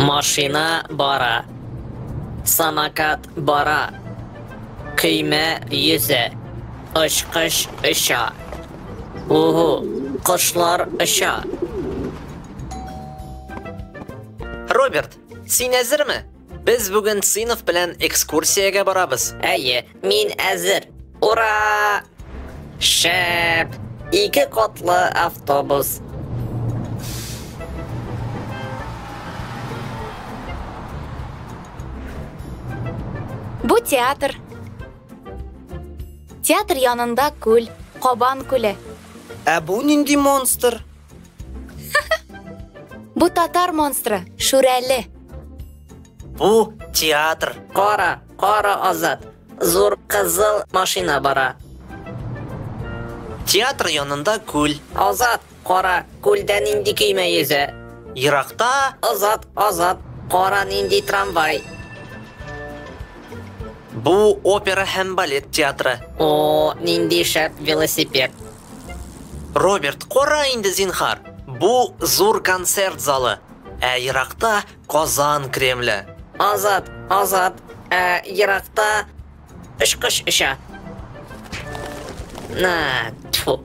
Машина бара. Самокат бара. Көймә йөзә. Очкыч оча. Уһу, кошлар оча. Роберт, син әзерме? Без бүген сыйныф белән экскурсиягә барабыз. Әйе, мин әзер. Ура! Шәп! Ике котлы автобус. Бу театр. Театр янында күл, Кабан күле. Ә бу нинди монстр? Бу татар монстры, Шүрәле. Бу театр. Кара, кара Азат. Зур кызыл машина бара. Театр янында күл. Азат, кара, күлдә нинди көймә йөзә? Еракта Азат, Азат, кара нинди трамвай. бу опера һәм балет театры. О, нинди шәп велосипед. Роберт, кара инде, зинхар, бу зур концерт залы, ә еракта Казан Кремле. Азат, Азат, ә еракта очкыч оча. На, тьфу.